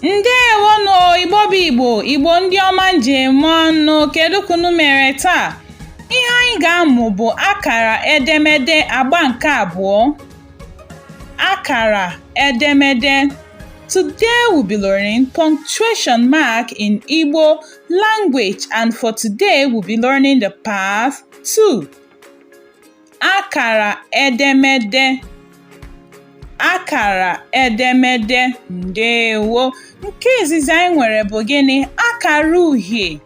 ndewonụ igbo bụ igbo igbo ndị ọma m ji eme ọnụ kedu ka unu mere taa ihe anyị ga-amụ bụ akara edemede agba nke abụọ Akara edemede Today we'll be learning punctuation mark in Igbo language and for today we'll be learning the part two Akara edemede akara edemede ndewo nke izizi anyị nwere bụ gịnị akara uhie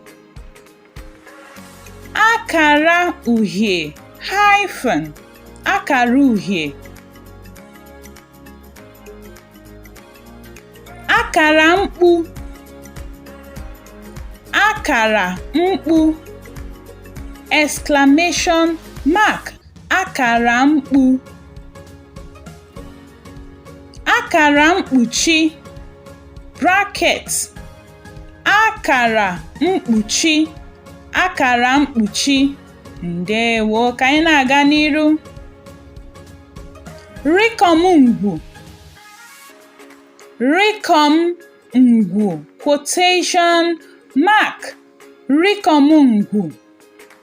akara uhie hyphen akara uhie akara mkpu akara mkpu exclamation mark akara mkpu akara mkpuchi bracket akara mkpuchi akara mkpuchi ndewo ka anyị na-aga n'iru rịkọm ngwu rịkọm ngwu quotation mark rịkọm ngwu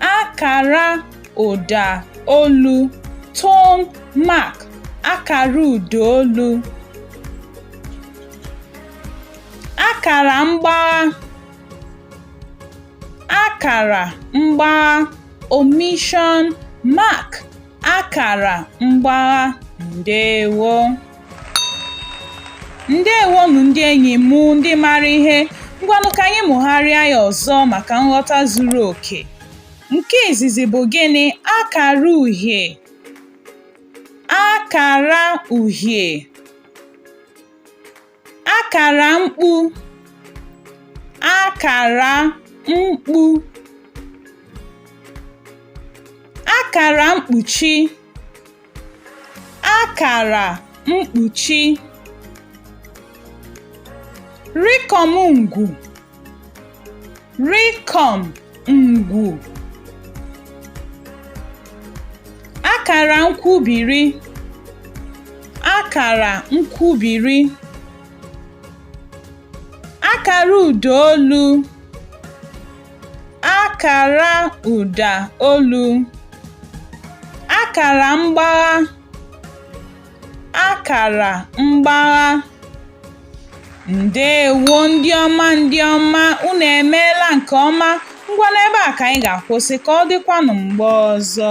akara ụda olu tone mark akara ụda olu akara mgbagha akara mgbagha omission mark akara mgbagha ndewo ndewonụ ndị enyi m ndị maara ihe ngwanụ ka anyị mụgharịa ya ọzọ maka nghọta zuru oke nke izizi bụ gịnị akara uhie akara uhie akara mkpu akara mkpu akara mkpuchi akara mkpuchi rịkọm ngwu Rịkọm ngwu. Akara nkwubiri. Akara nkwubiri. Akara ụda olu. Akara ụda olu. Akara mgbagha. Akara mgbagha. Ndeewo ndị ọma ndị ọma, unu emeela nke ọma. Ngwa n'ebe a ka anyị ga-akwụsị ka ọ dịkwanụ mgbe ọzọ.